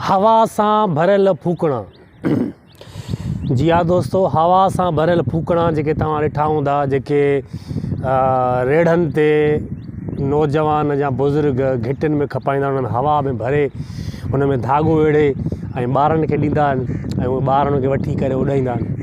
هوا سان ڀريل ڦوڪڻا، جي ها دوستو هوا سان ڀريل ڦوڪڻا جيڪي توهان ڏٺا هوندا جيڪي ريڙهن تي نوجوان يا بزرگ گهٽين ۾ کپائيندا آهن انهن هوا ۾ ڀري ان ۾ ڌاڳو ويڙهي ۽ ٻارن کي ڏيندا آهن ۽ اهي ٻار ان کي وٺي ڪري اڏائيندا آهن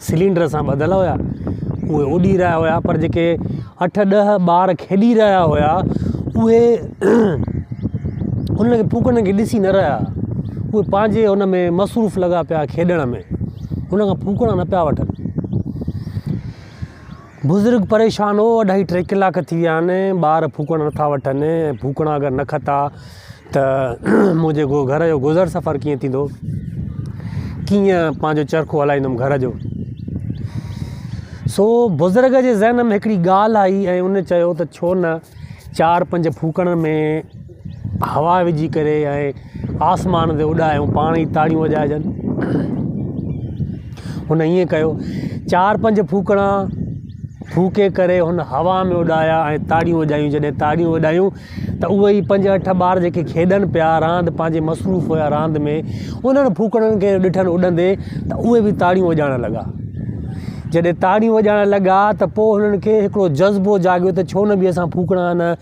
سلينڊر سان ٻڌل هيا اهي اڏي رهيا هيا پر جيڪي اٺ ڏهه ٻار کيڏي رهيا هيا اهي انهن کي ڦوڪڻ کي ڏسي نه رهيا اهي پنهنجي ان ۾ مصروف لڳا پيا کيڏڻ ۾ ان کان ڦوڪڻا نه پيا وٺن بزرگ پريشان هو، اڍائي ٽي ڪلاڪ ٿي ويا آهن، ٻار ڦوڪڻ نٿا وٺن، ڦوڪڻا اگر نه کتا ته منهنجي گهر جو گذر سفر ڪيئن ٿيندو، ڪيئن پنهنجو چرخو هلائيندم گهر جو. سو بزرگ جي ذهن ۾ هڪڙي ڳالهه آئي ۽ ان چيو ته ڇو نه چار پنج ڦوڪڻن ۾. هوا وجهي ڪري ۽ آسمان تي اڏائي ۽ پاڻ ئي تاڙيون وڄائجن. هن ائين ڪيو. چار پنج ڦوڪڻا ڦوڪي ڪري هن هوا ۾ اڏايا ۽ تاڙيون وڄايون. جڏهن تاڙيون وڄايون ته اهي ئي پنج اٺ ٻار جيڪي کيڏن پيا، راند پنهنجي مصروف هيا راند ۾، انهن ڦوڪڻن کي ڏٺن اڏندي ته اهي به تاڙيون وڄائڻ لڳا. جڏهن تاڙيون وڄائڻ لڳا ته پوء هنن کي هڪڙو جذبو جاڳيو ته ڇو نه به اسان ڦوڪڻا هن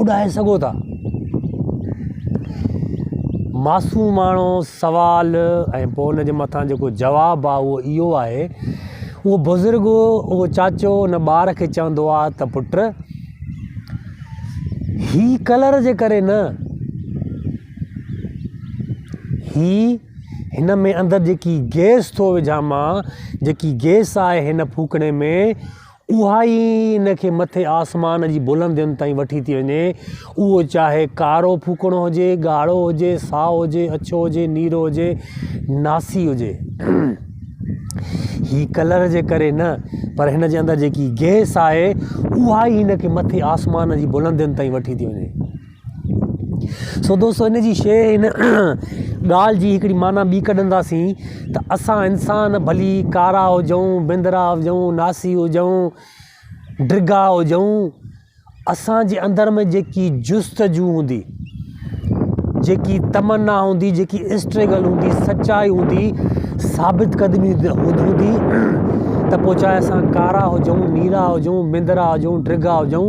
اڏائي سگهو ٿا. معصوماڻو سوال ۽ پوء ان جي مٿان جيڪو جواب آهي اهو اهو آهي اهو بزرگ اهو چاچو ان ٻار کي چوندو آهي ته پٽ هي ڪلر جي ڪري نه هي هن ۾ اندر جيڪي گيس ٿو وجهان مان جيڪي گيس آهي هن ڦوڪڻي ۾ اها ئي ان کي مٿي آسمان جي بلندين تائين وٺي ٿي وڃي. اهو چاهي ڪارو ڦوڪڻو هجي، ڳاڙهو هجي، سائو هجي، اڇو هجي، نيرو هجي، ناسي هجي. هي ڪلر جي ڪري نه پر هن جي اندر جيڪي گئس آهي اها ئي هن کي مٿي آسمان جي بلندين تائين وٺي ٿي وڃي. سو دوستو ان جي شيء ان ڳالهه جي هڪڙي معنيٰ ٻي ڪڍنداسين ته اسان انسان ڀلي ڪارا هجون بندرا هجون ناسي هجون ڊگها هجون اسانجي اندر ۾ جيڪي جستجو هوندي جيڪي تمنا هوندي جيڪي اسٽرگل هوندي سچائي هوندي ثابت قدمي هوندي ته پوء چاهي اسان ڪارا هجون نيرا هجون بندرا هجون ڊگها هجون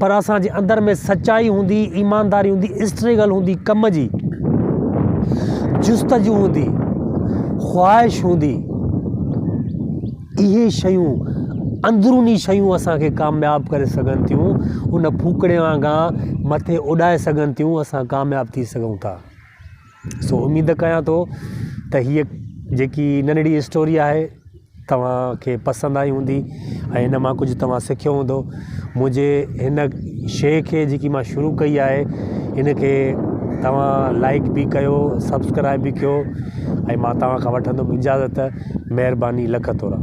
پر اسان جي اندر ۾ سچائي هوندي، ايمانداري هوندي، اسٽريگل هوندي، ڪم جي جستجو هوندي، خواهش هوندي، اهي شيون اندروني شيون اسان کي ڪامياب ڪري سگهن ٿيون ان ڦوڪڻي وانگان مٿي اڏائي سگهن ٿيون اسان ڪامياب ٿي سگهون ٿا سو اميد ڪيان ٿو ته هيء جيڪي ننڍڙي اسٽوري آهي توهان کي پسند آئي هوندي ۽ هن مان ڪجهه توهان سکيو هوندو منهنجي هن شيء کي جيڪي مان شروع ڪئي آهي ان کي توهان لائڪ به ڪيو سبسڪرائب به ڪيو ۽ مان توهان کان وٺندم اجازت مهرباني لک ٿورا